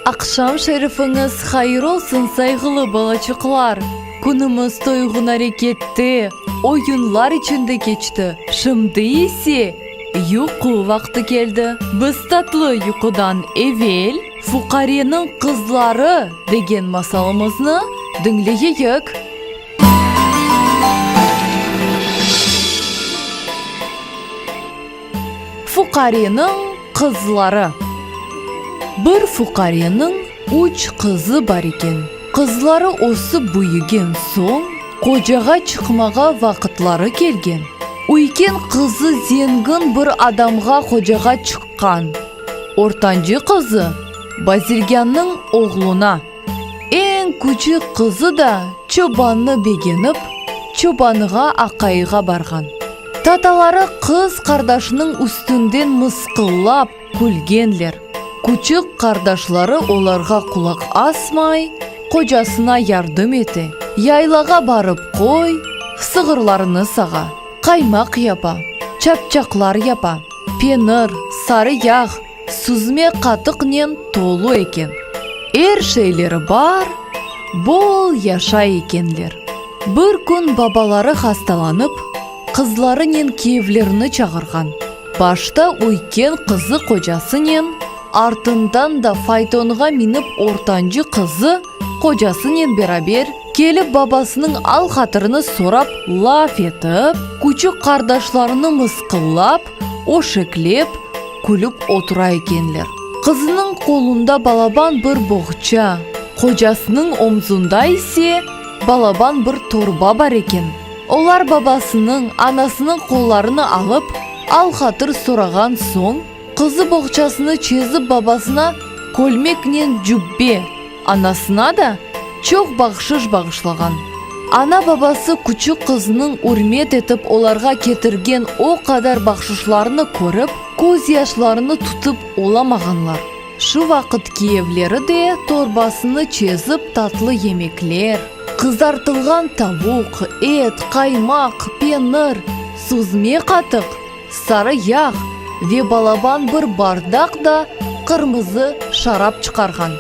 Aqşam şerifiñiz hayır olsun, sayğılı balaçıqlar! Künümiz toyğun arekette, oyunlar içinde keçti. Şimdi ise. Yuqu vaqtı keldi. Biz tatlı yuqudan evel. Fuqareniñ qızları degen masalımıznı diñleyeyik. Fuqareniñ qızları. Bir fuqareniñ. Üç qızı bar eken. Qızları ösip büyügen soñ, qocağa çıqmağa vaqıtları kelgen. Üyken qızı zengin bir adamğa qocağa çıqqan. Ortancı qızı, bazirgânnıñ oğluna, eñ küçük qızı da çobannı begenip, çobanğa aqayığa barğan. Tataları qız qardaşınıñ üstünden mısqıllap. Külgenler. Küçük qardaşları olarğa qulaq asmay, qocasına yardım ete, yaylağa barıp qoy, sığırlarını sağa, qaymaq yapa, çapçaqlar yapa, penir, sarı yağ, süzme qatıqnen tolu eken. Er şeyleri bar, bol yaşay ekenler. Bir kün babaları hastalanıp. Qızlarınen kiyevlerni çağırğan. Başta üyken qızı qocasınen, artından da faytonğa minip ortancı qızı qocasınen beraber kelip babasınıñ al-hatırını sorap laf etip, küçük qardaşlarını mısqıllap, öşeklep, külip otura ekenler. Qızınıñ qolunda balaban bir boğça, qocasınıñ omzunda ise balaban bir torba bar eken. Olar babasınıñ, anasınıñ qollarını alıp, al-hatır sorağan soñ, qızı boğçasını çezip babasına kölmeknen cübbe, anasına da çoq bahşış bağışlağan. Ana-babası küçük qızınıñ ürmet etip olarğa ketirgen o qadar bahşışlarnı körip, közyaşlarını tutıp olamağanlar. Şu vaqıt kiyevleri de torbasını çezip tatlı yemekler, qızartılğan tavuq, et, qaymaq, penir, suzme qatıq, sarı yağ ve balaban bir bardaq da qırmızı şarap çıqarğan.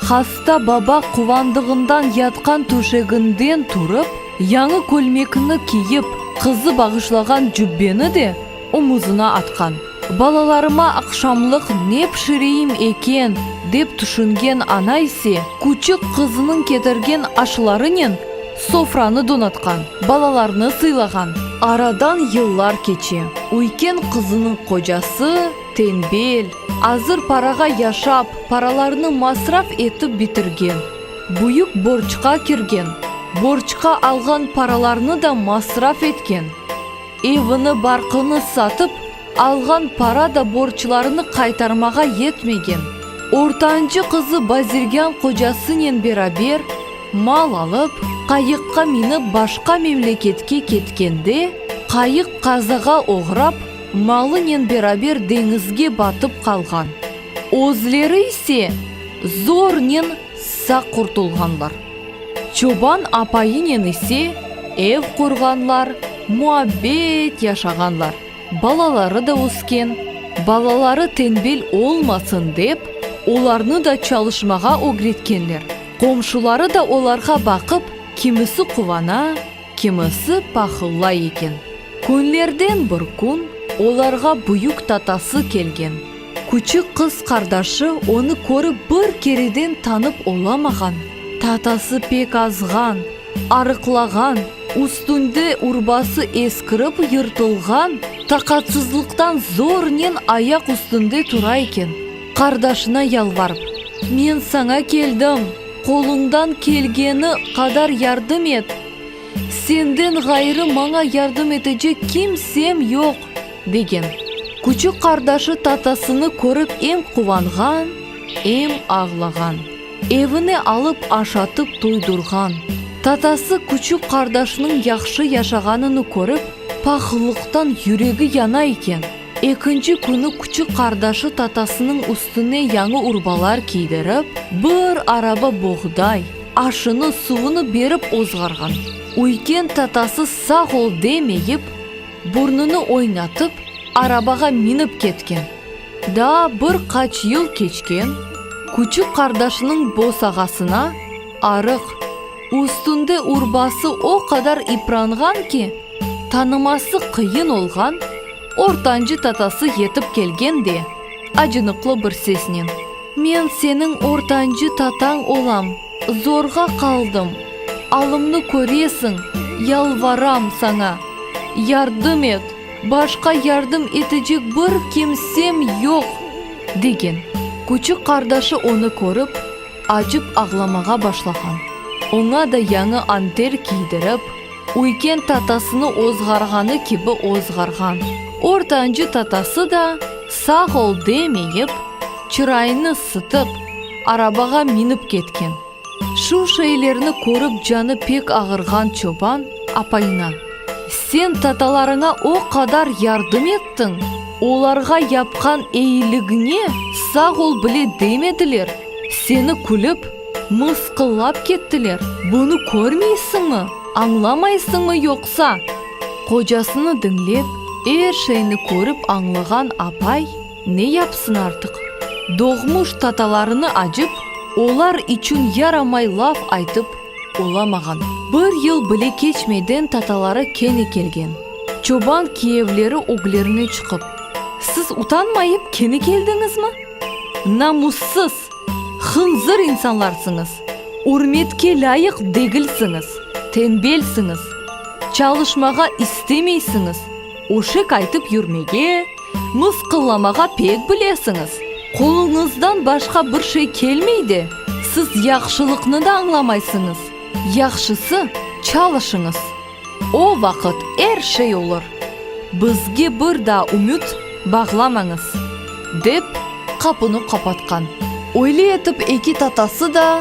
Hasta baba quvandığından yatqan töşeginden turıp, yañı kölmekni kiyip, qızı bağışlağan cübbeni de omuzına atqan. Balalarıma aqşamlıq ne pişireyim eken, dep tüşüngen ana ise, küçük qızınıñ ketirgen aşlarınen sofranı donatqan, balalarnı sıylağan. Aradan yıllar keçe. Üyken qızınıñ qocası, tenbel, azır parağa yaşap, paralarnı masraf etip bitirgen, büyük borçqa kirgen, borçqa alğan paralarnı da masraf etken. Evini, barqını satıp, alğan para da borçlarını qaytarmağa yetmegen, ortancı qızı bazirgân qocasınen beraber, mal alıp, qayıqqa minip başqa memleketke ketkende, qayıq qazağa oğrap, malınen beraber deñizge batıp qalğan. Özleri ise zornen Sağ qurtulğanlar, çoban apayınen ise ev qurğanlar, muabbet yaşağanlar, balaları da ösken, balaları tenbel olmasın dep, olarnı da çalışmağa ögretkenler, qomşuları da olarğa baqıp, kimisi quvana, kimisi pahıllay eken. Künlerden bir kün olarğa büyük tatası kelgen. Küçük qız qardaşı onı körip bir kereden tanıp olamağan, tatası pek azğan, arıqlağan, üstünde urbası eskirip yırtılğan, taqatsızlıqtan zornen ayaq üstünde tura eken, qardaşına yalvarıp, Men saña keldim, qoluñdan kelgeni qadar yardım et! Senden ğayrı maña yardım etecek kimsem yoq! Degen. Küçük qardaşı tatasını körip em quvanğan, em ağlağan. Evine alıp aşatıp toydurğan. Tatası küçük qardaşınıñ yahşı yaşağanını körip, pahıllıqtan yüregi yana eken, ekinci künü küçük qardaşı tatasınıñ üstüne yañı urbalar kiydirip, bir araba boğday, aşını, suvunı berip ozğarğan. Üyken tatası sağ ol demeyip. Burnunı oynatıp, arabağa minip ketken. Daa bir qaç yıl keçken, küçük qardaşınıñ bosağasına, arıq, üstünde urbası o qadar ipranğan ki, tanıması qıyın olğan, ortancı tatası yetip kelgen de, acınıqlı bir sesnen, Men seniñ ortancı tatañ olam! Zorğa qaldım, alımnı köresiñ, yalvaram saña, yardım et, başqa yardım etecek bir kimsem yoq! degen. Küçük qardaşı onı körip, acıp ağlamağa başlağan. Oña da yañı anter kiydirip, üyken tatasını ozğarğanı kibi ozğarğan. Ortancı tatası da sağ ol demeyip, çırayını sıtıp, arabağa minip ketken. Şu şeylerni körip canı pek ağırğan çoban apayına, Sen tatalarıña o qadar yardım ettiñ, olarğa yapqan eyiligiñe sağ ol bile demediler, seni külip, mısqıllap kettiler, bunı körmeysiñmi, añlamaysıñmı yoqsa? Qocasını diñlep, er şeyni körip añlağan apay. Ne yapsın artıq, doğmuş tatalarını acıp, olar içün yaramay laf aytıp olamağan. Bir yıl bile keçmeyden tataları kene kelgen. Çoban kiyevleri öglerine çıqıp, Siz utanmayıp kene keldiñizmi? Namussız, hınzır insanlarsıñız, ürmetke lâyıq degilsiñiz, tenbelsiñiz, çalışmağa istemeysiñiz, öşek aytıp yürmege, Mısqıllamağa pek bilesiñiz. Qoluñızdan başqa bir şey kelmey de, siz yahşılıqnı da añlamaysıñız. Yahşısı, çalışıñız. O vaqıt er şey olur. Bizge bir daa ümüt bağlamañız, dep, qapını qapatqan. Öyle etip eki tatası da.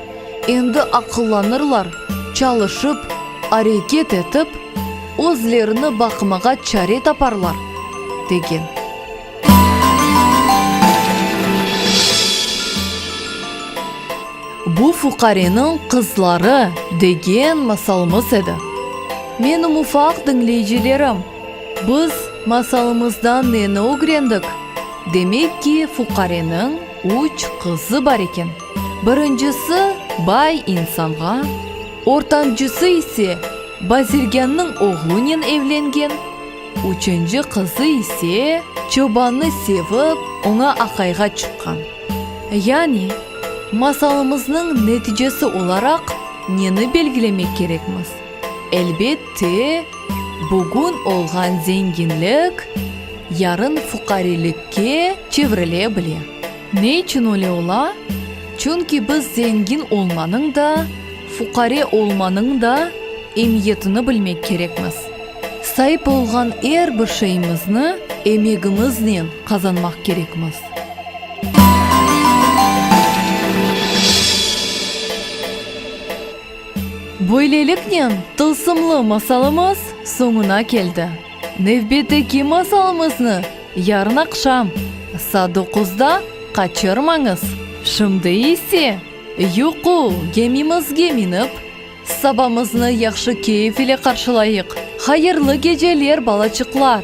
Endi aqıllanırlar, çalışıp, areket etip, özlerini baqmağa çare taparlar, degen. Bu fuqareniñ qızları, degen masalımız edi. Menim ufaq diñleyicilerim, biz masalımızdan neni ögrendik? Demek ki, fuqareniñ üç qızı bar eken. Birincisi, bay insanğa, ortancısı ise bazirgânnıñ oğlunen evlengen, üçünci qızı ise çobannı sevip, oña aqayğa çıqqan. Yani, masalımıznıñ neticesi olaraq neni belgilemek kerekmiz? Elbette, bugün olğan zenginlik, yarın fuqarilikke çevrile bile. Ne içün öyle ola? Çünki biz zengin olmanıñ da, fuqare olmanıñ da emiyetini bilmek kerekmiz. Saip olğan er bir şeyimizni emegimiznen qazanmaq kerekmiz. Böyleliknen, tılsımlı masalımız soñuna keldi. Nevbetteki masalımıznı Yarın aqşam, saa doquzda, qaçırmañız! Şimdi ise, yuqu gemimizge minip, sabamıznı yahşı keyf ile qarşılayıq! Hayırlı geceler, balaçıqlar!